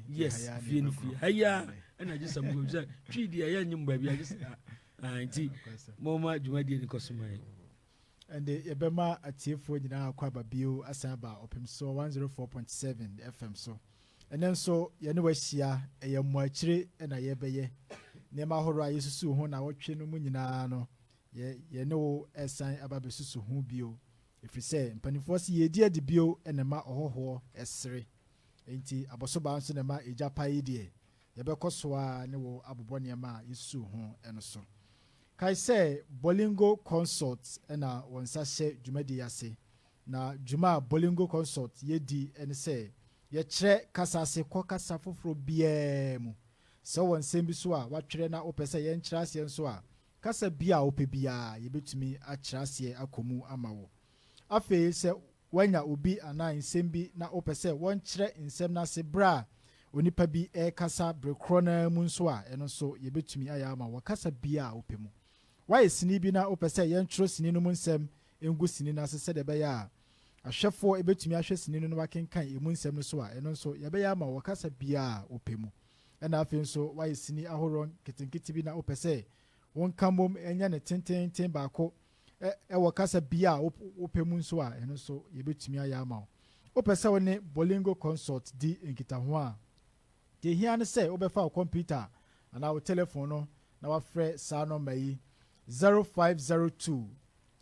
yes fie no fie ha yi a ɛna gye sɛ mokɔ sɛ twi deɛ ɛyɛ nyem baabi agye sɛ ah, ah, nti momma dwumadie no kɔ so ma yɛ ɛnde yɛbɛma atiefoɔ nyinaa akɔ aba bio asan aba ɔpem so 104.7 fm so ɛnɛ nso yɛne wahyia ɛyɛ mmoakyire na yɛbɛyɛ nneɛma ahorow a yɛsusu ho na wɔtwe no mu nyinaa no yɛne wo ɛsan aba bɛsusu ho bio Ɛfiri sɛ mpanimfoɔ se yɛredi adi bio na ɛma ɔhɔhoɔ sere, enti abɔsobaa nso na ɛma egya pa yi deɛ, yɛbɛkɔ so ara ne wo abobɔ nneɛma a yɛsusuu ho no so. Kae sɛ Bolingo Consult na wɔn nsa hyɛ dwumadie yi ase, na dwuma a Bolingo Consult yɛ di ne sɛ yɛkyerɛ kasa ase kɔ kasa foforɔ biara mu. Sɛ wowɔ nsɛm bi so a woatwerɛ na wopɛ sɛ yɛnkyerɛ aseɛ nso a, Kasa bi a wopɛ biara, yebetumi akyerɛ aseɛ akɔ mu ama wo. Afei sɛ woanya obi anaa nsɛm bi na wopɛ sɛ wɔkyerɛ nsɛm no ase bere a onipa bi rekasa bere korɔ no ara mu nso a, ɛno nso yebetumi ayɛ ama wo wɔ kasa biara a wopɛ mu. Woayɛ sini bi na wopɛ sɛ yɛntwerɛ sini no mu nsɛm ngu sini no ase sɛdeɛ ɛbɛyɛ a ahwɛfoɔ betumi ahwɛ sini no na wɔakenkan emu nsɛm no so a, ɛno nso yɛbɛyɛ ama wo wɔ kasa biara a wopɛ mu. ɛna afei nso wayɛ sini ahoroɔ nketenkete bi na wopɛ sɛ wonka mmom nyɛ no tenteenten baako wɔ kasa bia a wopɛ mu nso a, ɛno nso yɛbɛtumi ayɛ ama wo. Wopɛ sɛ wo ne Bolingo Consult di nkitaho a, deɛ ɛhia ne sɛ wobɛfa wo kɔmputa anaa wo telefon no na wafrɛ saa nɔmba yi 0502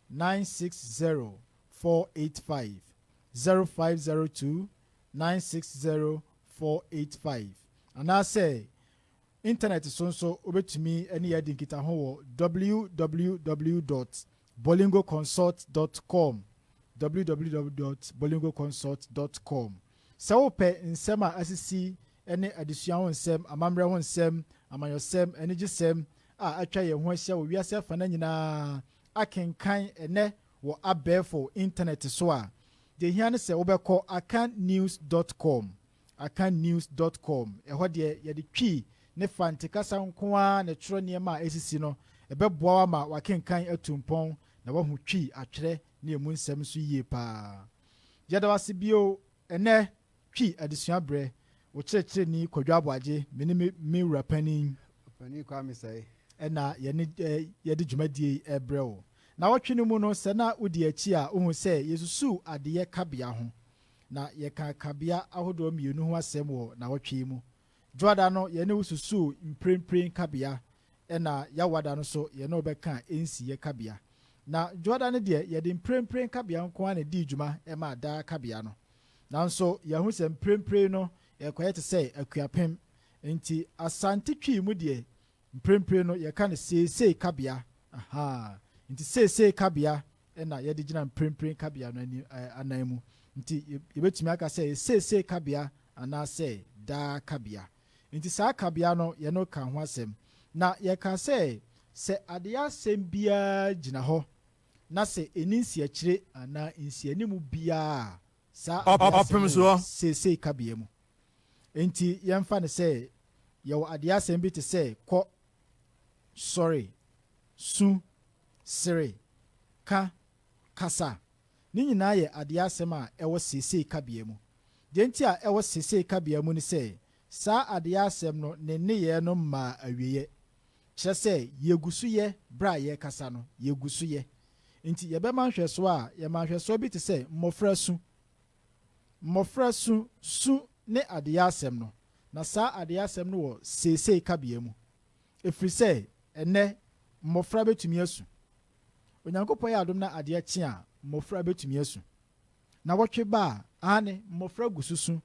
960 485, 0502 960 four eight five Anaasɛ intanɛt so nso wobɛtumi ne yɛn adi nkitaho wɔ www dot bolingoconsult dot com www dot bolingoconsult dot com Sɛ wopɛ nsɛm a asisi ne adesua ho nsɛm, amammerɛ ho nsɛm, amanyɔsɛm, anigyesɛm a atwa yɛn ho ahyia wɔ wiase afanan nyinaa akenkan ɛnnɛ wɔ abɛɛfo intanɛt so a, Deɛ ɛhia ne sɛ wobɛkɔ akannews dot com, akannews dot com, ɛhɔ deɛ yɛde Twi ne Fante kasa nko ara na ɛtwerɛ nneɛma a ɛresisi no. Ɛbɛboa wo ama w'akenkan atu mpɔn na woahu Twi atwerɛ ne emu nsɛm nso yie pa ara. Yɛda wo ase bio ɛnnɛ! Twi adesua brɛ wo kyerɛkyerɛni Kwadwo Aboagye, me ne me Wura Panin, Ɔpanin Kwame Sɛe, na yɛne yɛde dwumadie yi rebrɛ wo. Nawɔtwe no mu no, sɛ na wodi akyi a, wohu sɛ yɛsusuu adeyɛ kabea ho, na yɛkaa kabea ahodoɔ mmienu ho asɛm wɔ nawɔtwe yi mu. Dwoada no, yɛne wo susuu mprempren kabea ɛna Yawada no so yɛne wo bɛka nsiyɛ kabea. Na Dwoada no deɛ yɛde mprempren kabea nko ara na ɛdii dwuma maa daa kabea no. Nanso yɛahu sɛ mprempren no ɛrekɔyɛ te sɛ Akuapem. Enti Asante Twi mu deɛ mprempren no yɛka no seesei kabea. Ahaa. Enti seesei kabea ɛna yɛde gyina mprempren kabea no anan mu. Enti yɛbɛtumi aka sɛ ɛyɛ seesei kabea anaasɛ daa kabea. Enti saa kabea no, yɛne no kaa ho asɛm, na yɛkaa sɛ, Sɛ adeyɛ asɛm biara gyina hɔ, na sɛ enni nsiakyire anaa nsianim biara a, saa adeyɛ asɛm no wɔ seesei kabea mu. Enti yɛmfa no sɛ yɛwɔ adeyɛ asɛm bi te sɛ kɔ, sɔre, su, sere, ka, Kasa. Ne nyinaa yɛ adeɛ asɛm a ɛwɔ seesei kabea mu. Deɛ nti a ɛwɔ seesei kabea mu ne sɛ, saa adeɛ asɛm no ne nneyɛɛ no mmaa awieɛ. Kyerɛ sɛ, yɛgu so yɛ berɛ a yɛrekasa no, yɛgu so yɛ. Nti yɛbɛma nhwɛsoɔ a, yɛma nhwɛsoɔ bi te sɛ mmɔfra su. Mmɔfra su, su ne adeɛ asɛm no, na saa adeɛ asɛm no wɔ seesei kabea mu. Ɛfiri sɛ, ɛnnɛ, mmɔfra bɛtumi asu. Onyankopɔn yɛ adom na adeɛ kye a, mmɔfra bɛtumi asu. Nnawɔtwe ba a, aane, mmɔfra gu so su.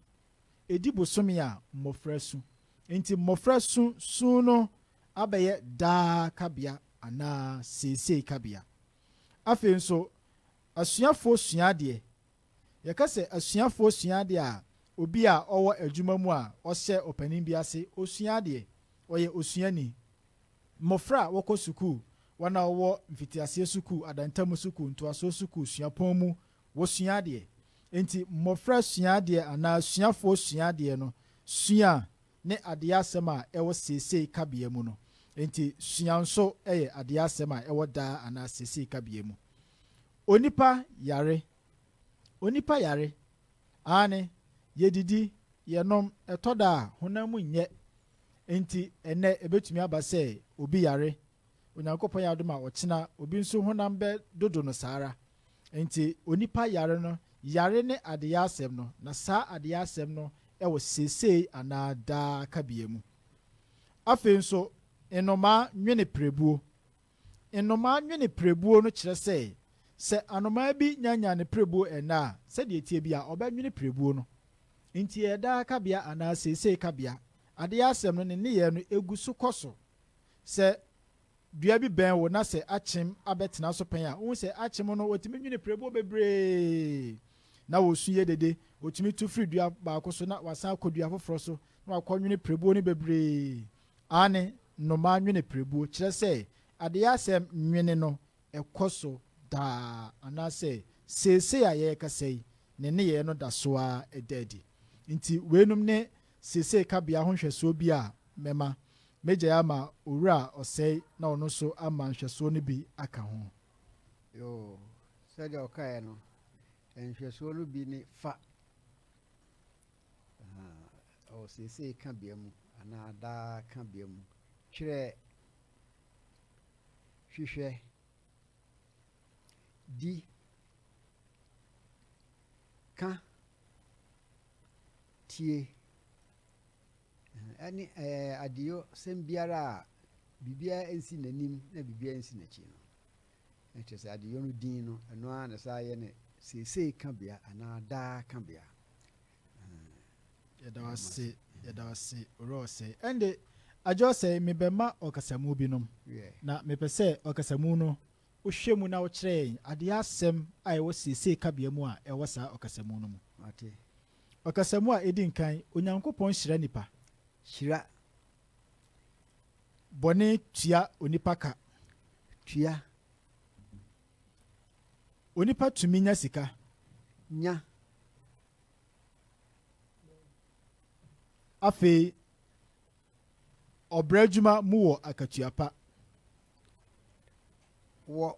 Ɛdi bosome a, mmɔfra su. Enti mmɔfra su su no abɛyɛ daa kabea anaa seesei kabea. Afei nso, asuafoɔ sua adeɛ. Yɛka sɛ asuafoɔ sua adeɛ a, obi a ɔwɔ adwuma mu a ɔhyɛ ɔpanin bi ase, ɔsua adeɛ. Ɔyɛ osuani. Mmofra a wɔkɔ sukuu, wɔn a wɔwɔ mfitiaseɛ sukuu, adantamu sukuu, ntoasoɔ sukuu, suapɔn mu, wɔsua adeɛ. Enti mmofra sua adeɛ anaa asuafoɔ sua adeɛ no, sua ne adeɛ asɛm a ɛwɔ seesei kabea mu no. Enti sua nso yɛ adeɛ asɛm a ɛwɔ daa anaa seesei kabea mu. Onipa yare Onipa yare. Aane, yɛdidi, yɛnom, ɛtɔ da a honam mu nyɛ. Enti ɛnnɛ ɛbɛtumi aba sɛ obi yare, Onyankopɔn yɛ adom a ɔkyena obi nso honam bɛ dodo no saa ara. Enti onipa yare no, yare ne adeyɛ asɛm no, na saa adeyɛ asɛm no wɔ seesei anaa daa kabea mu. Afei nso, nnomaa nwene pirebuo. Nnomaa nwene pirebuo no kyerɛ sɛ, sɛ anomaa bi nyanyan ne pirebuo ɛnnɛ a, sɛdeɛ ɛteɛ biara, ɔbɛnwene pirebuo no. Enti ɛyɛ daa kabea anaa seesei kabea. Adeɛ asɛm no, ne nneyɛɛ no gu so kɔ so. Sɛ dua bi bɛn wo na sɛ akyem abɛtena so pɛn a, wohu sɛ akyem no wɔtumi nwene pirebuo bebree na wɔsu yɛ dede. Wɔtumi tu firi dua baako so na wɔasan akɔ dua foforɔ so na wɔakɔnwene pirebuo no bebree. Aane, nnomaa nwene pirebuo, kyerɛ sɛ, adeyɛ asɛm nwene no kɔ so daa, anaasɛ seesei a yɛrekasa yi, ne nneyɛɛ no da so ara da adi. Nti, weinom ne seesei kabea ho nhwɛsoɔ bi a mɛma. Mɛgyae ama Owura Ɔsɛe na ɔno nso ama nhwɛsoɔ no bi aka ho. Yoo, sɛdeɛ ɔkaeɛ no, nhwɛsoɔ no bi ne fa. Ahaa, ɔwɔ seesei kabea mu anaa daa kabea mu. Twerɛ Hwehwɛ Di Ka Tie Ɛne ɛɛ adeyɔ sɛm biara a biribiara nsi n'anim na biribiara nsi n'akyi no. na kyerɛ sɛ adeyɔ no din no, ɛno ara na ɛsan yɛ ne seesei kabea anaa daa kabea. Yɛda wo ase, yɛda wo ase, Owura Ɔsɛe. Ɛnde, Agya Ɔsɛe, mebɛma ɔkasamu binom, na mepɛ sɛ ɔkasamu no wohwɛ mu na wokyerɛ yɛn adeyɔ asɛm a ɛwɔ seesei kabea mu a ɛwɔ saa ɔkasamu no mu. Ɔkasamu a edi nkan, Onyankopɔn Hyira Nnipa. Hyira Bɔne tua onipa ka. Tua. Onipa tumi nya sika. Nya. Afei, ɔbrɛ adwuma mu wɔ akatua pa. Wɔ.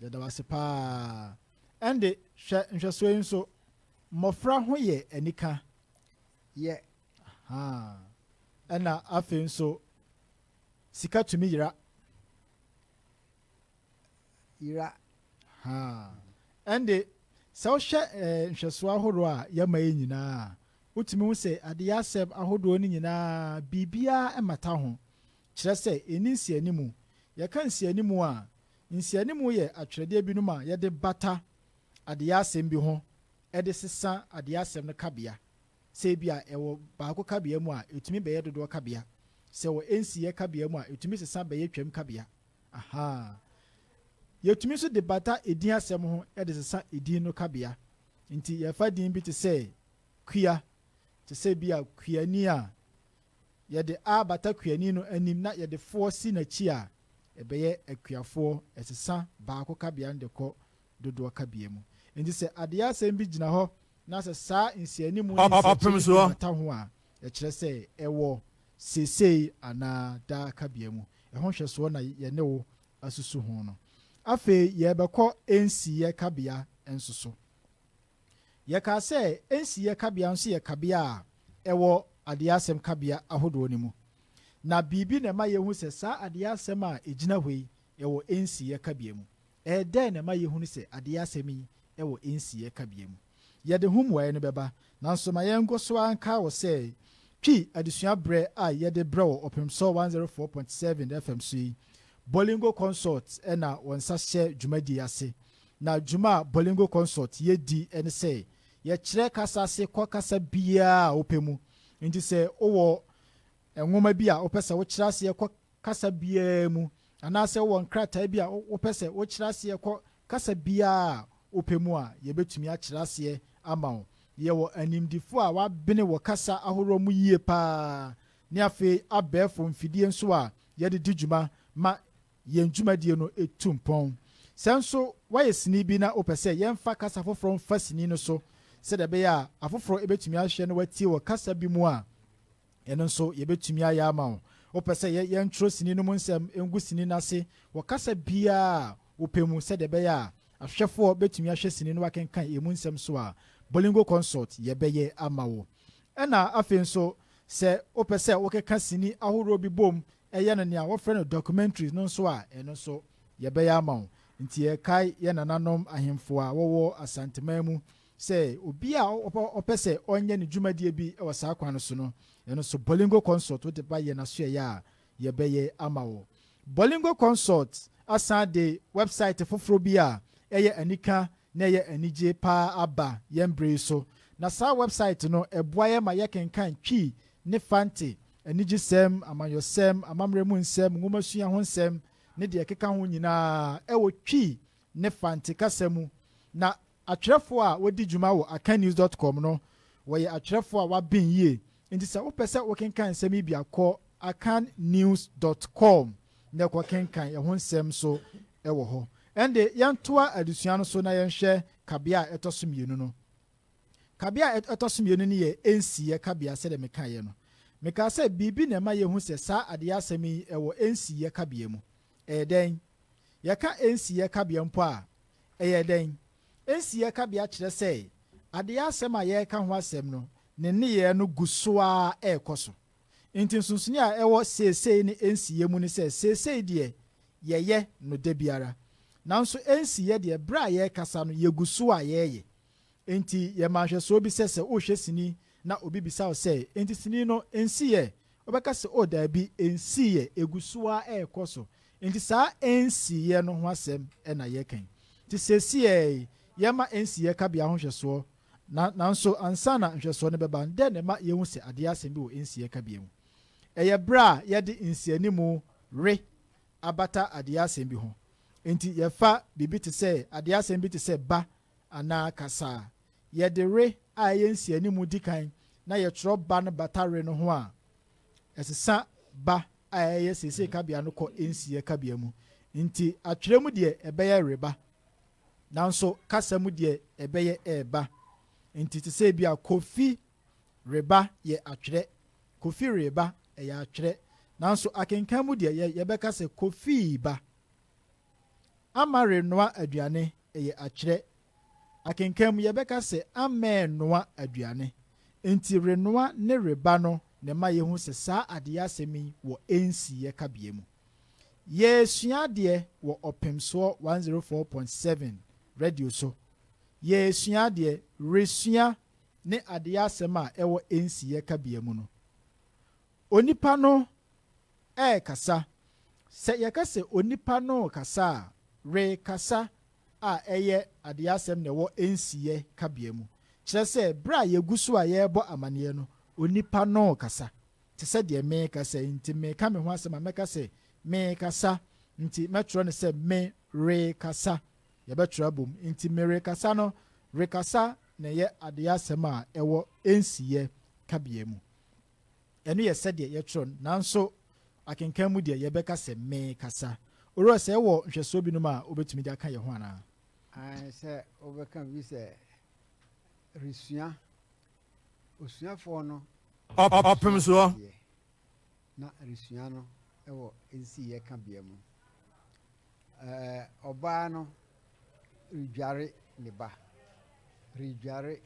Yɛda wo ase paa. Ɛnde, hwɛ nhwɛsoɔ yi nso. Mmɔfra ho yɛ anika. Yɛ. Ahaa. Ɛna afei nso sika tumi yera. Yera. Haa. Ɛnde sɛ wohwɛ eh, nhwɛsoɔ ahoroɔ a yɛma yi nyinaa a, wotumi hu sɛ adeyɛ asɛm ahodoɔ no nyinaa biribiara mmata ho. Kyerɛ sɛ ɛnni nsianimu. Yɛka nsianimu a, nsianimu yɛ atwerɛdeɛ binom a yɛde bata adeyɛ asɛm bi ho de sesa adeyɛ asɛm no kabea. Sɛ ebia ɛwɔ baako kabea mu a, ɛtumi bɛyɛ dodoɔ kabea. Sɛ ɛwɔ nsiyɛ kabea mu a, ɛtumi sesa bɛyɛ twam kabea. Ahaa. Yɛtumi nso de bata edin asɛm ho de sesa edin no kabea. Nti yɛfa din bi te sɛ Kua, te sɛ ebia Kuani a, yɛde a bata Kuani no anim na yɛde foɔ si n'akyi a, ɛbɛyɛ Akuafoɔ. Ɛsesa baako kabea no de kɔ dodoɔ ka bia mu. Enti sɛ adeɛ asɛm bi gyina hɔ na sɛ saa nsianimu ne nsɛnkyerɛ no bi bata ho a, ɛkyerɛ sɛ ɛwɔ seesei anaa daa ka bia mu. Ɛho nhwɛsoɔ na yɛne wo asusu ho no. Afei yɛrebɛkɔ nsiyɛ kabea nso so. Yɛkaa sɛ nsiyɛ kabea nso yɛ kabea a ɛwɔ adeɛ asɛm kabea ahodoɔ no mu. Na biribi na ɛma yɛhu sɛ saa adeɛ asɛm a ɛgyina hɔ yi Ɛwɔ nsiyɛ kabea mu. Ɛɛ dɛn na ɛma yɛhunu sɛ adeyɛ asɛm yi wɔ nsiyɛ kabea mu? Yɛde ho mmuaeɛ no bɛba, nanso ma yɛnkɔ so ara nkae wo sɛ Twi adesua berɛ a yɛde brɛ wo Ɔpemsɔ 104.7 FM so yi, Bolingo Consult na wɔn nsa hyɛ dwumadie yi ase. Na dwuma a Bolingo Consult yɛ di ne sɛ yɛkyerɛ kasa ase kɔ kasa biara a wopɛ mu. Enti sɛ wowɔ nwoma bi a wopɛ sɛ wokyerɛ aseɛ kɔ kasa biara mu anaasɛ wowɔ nkrataa bi a wopɛ sɛ wokyerɛ aseɛ kɔ kasa biara a wopɛ mu a, yɛbɛtumi akyerɛ aseɛ ama wo. Yɛwɔ animdefoɔ a wɔabene wɔ kasa ahoroɔ mu yie pa ara ne afei abɛɛfo mfidie nso a yɛde di dwuma ma yɛn dwumadie no tu mpɔn. Sɛ nso woayɛ sini bi na wopɛ sɛ yɛmfa kasa foforɔ mfa sini no so sɛdeɛ ɛbɛyɛ a afoforɔ bɛtumi ahwɛ na wɔatie wɔ kasa bi mu a, Ɛno nso yɛbɛtumi ayɛ ama wo. Wopɛ sɛ yɛntwerɛ sini no mu nsɛm ngu sini no ase wɔ kasa biara a wopɛ mu sɛdeɛ ɛbɛyɛ a ahwɛfoɔ bɛtumi ahwɛ sini no akenkan ɛmu nsɛm nso a, Bolingo Consult yɛbɛyɛ ama wo. Ɛna afei nso sɛ wopɛ sɛ wokeka sini ahoroɔ bi bom yɛ no nea wɔfrɛ no documentary no nso a, ɛno nso yɛbɛyɛ ama wo. Nti yɛkae yɛn nananom ahemfo a wɔwɔ Asanteman mu Sɛ obi a ɔpɛ sɛ ɔnyɛ ne dwumadie bi wɔ saa kwan no so no, yɛn nso Bolingo Consult wode ba yɛn asoɛeɛ a, yɛbɛyɛ ama wo. Bolingo Consult asan de wɛbsaete foforɔ bi a ɛyɛ anika na ɛyɛ anigye pa ara aba yɛn berɛ yi so. Na saa wɛbsaete no, ɛboa yɛn ma yɛkenkan Twi ne Fante anigyesɛm, amanyɔsɛm, amammerɛ mu nsɛm, nwomasua ho nsɛm, ne deɛ ɛkeka ho nyinaa wɔ Twi ne Fante kasa mu. Na Atwerɛfoɔ a wɔdi dwuma wɔ akannews dot com no, wɔyɛ atwerɛfoɔ a wɔaben yie, enti sɛ wopɛ sɛ wokenkan nsɛm yi bi a, kɔ akan news dot com na ɛkɔ kenkan ɛho nsɛm nso wɔ hɔ. Ɛnde, yɛntoa adesua no so na yɛnhwɛ kabea a ɛtɔ so mmienu no. Kabea a ɛtɔ so mmienu no yɛ ɛnsiiɛ kabea sɛdeɛ mekaeɛ no. Mekaa sɛ biribi na ɛma yɛhu sɛ saa adeyɛ asɛm yi wɔ ɛnsiiɛ kabea mu. Ɛyɛ dɛn? Yɛka nsiyɛ kabea mpo a, ɛyɛ dɛn? Nsiyɛ kabea kyerɛ sɛ adeyɛ asɛm a yɛreka ho asɛm no, ne nneyɛɛ no gu so ara rekɔ so. Enti nsonsonoe a ɛwɔ seesei ne nsiyɛ mu ne sɛ seesei deɛ, yɛyɛ no da biara. Nanso nsiyɛ deɛ, berɛ a yɛrekasa no, yɛgu so a yɛreyɛ. Enti yɛ ma nhwɛsoɔ bi sɛ sɛ worehwɛ sini na obi bisa wo sɛ, Enti sini no, ɛnsiiɛ? Wobɛka sɛ, O daabi, ɛnsiiɛ, ɛgu so ara rekɔ so. Enti saa ɛnsiiɛ no ho asɛm na yɛreka yi. Enti seesei ara yi, yɛma ɛnsiiɛ kabea ho nhwɛsoɔ. Na, nanso ansa na nhwɛsoɔ no bɛba no, dɛn na ɛma yɛhu sɛ adeɛ yɛ asɛm bi wɔ ɛnsiiɛ kabea mu? Ɛyɛ berɛ a yɛde nsianimu re abata adeɛ yɛ asɛm bi ho. Enti yɛfa biribi te sɛ, adeɛ yɛ asɛm bi te sɛ ba anaa kasa a yɛde re a ɛyɛ nsianimu di kan na yɛtwerɛ ba no bata re no ho a, ɛsesa ba a ɛyɛ seesei kabea no kɔ nsiɛ kabea mu. Nti atwerɛ mu deɛ ɛbɛyɛ reba, nanso kasa mu deɛ ɛbɛyɛ ɛɛba. Nti te sɛ bi a Kofi reba yɛ atwerɛ, Kofi reeba ɛyɛ atwerɛ, nanso akenkan mu deɛ yɛbɛka sɛ Kofii ba. Amma renoa aduane yɛ akyerɛ. Akenkan mu yɛbɛka sɛ ammɛɛ noa aduane. Enti renoa ne reba no na ɛma yɛhu sɛ saa adeyɛ asɛm yi wɔ nsiyɛ kabea mu. Yɛresua adeɛ wɔ Ɔpemsoɔ 104.7 Radio so. Yɛresua adeɛ, resua ne adeyɛ asɛm a ɛwɔ nsiyɛ kabea mu no. Onipa no rekasa. Sɛ yɛka sɛ onipa no rekasa a, rekasa a ɛyɛ adeɛasɛm na ɛwɔ nsiyɛ kabea mu, kyerɛ sɛ berɛ a yɛgu so a yɛrebɔ amanneɛ no, onipa no rekasa. Te sɛ deɛ merekasa yi, nti mereka me ho asɛm a, mɛka sɛ merekasa, nti mɛtwerɛ no sɛ me rekasa. Yɛbɛtwerɛ abom. Nti merekasa no, rekasa na ɛyɛ adeɛasɛm a ɛwɔ nsiyɛ kabea mu. Ɛno yɛ sɛdeɛ yɛtwerɛ no, nanso akenkan mu deɛ, yɛbɛka sɛ mekasa. Owura, sɛ yɛwɔ nhwɛsoɔ binom a wobɛtumi de aka yɛn ho anaa? Aane, sɛ wobɛka bi sɛ resua, osuafoɔ no resua adeɛ, na resua no wɔ nsiiɛ kabea mu. Ɛɛ, ɔbaa no redware ne ba, redware,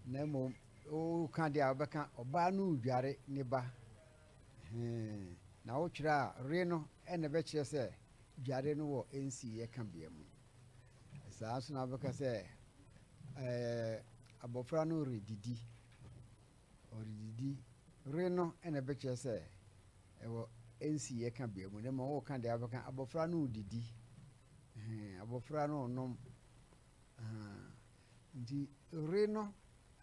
na mmom woka deɛ a wobɛka ɔbaa no redware ne ba. Hee, na wotwerɛ a re no ɛna ɛbɛkyerɛ sɛ dware no wɔ nsiiɛ ka bea mu. Saa nso na wobɛka sɛ ɛɛ, abɔfra no redidi. Ɔredidi re no na ɛbɛkyerɛ sɛ ɛwɔ ɛnsiiɛ ka bea mu na mmom woka deɛ abɛka abɔfra no redidi hmm, abɔfra no renom hmm. nti re no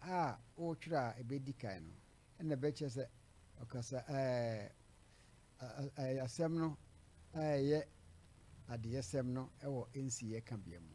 a wotwerɛ a ɛbɛdi kan no na ɛbɛkyerɛ sɛ ɔkasa ɛɛ asɛm no a ɛyɛ adeyɛsɛm no ɛwɔ ɛnsiiɛ ka bea mu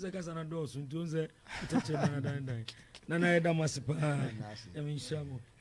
sɛ kasa no dɔɔso nti ɔhu sɛ wokyɛkyɛ no anadandan nana yɛda mo ase paa ɛme nhyira mo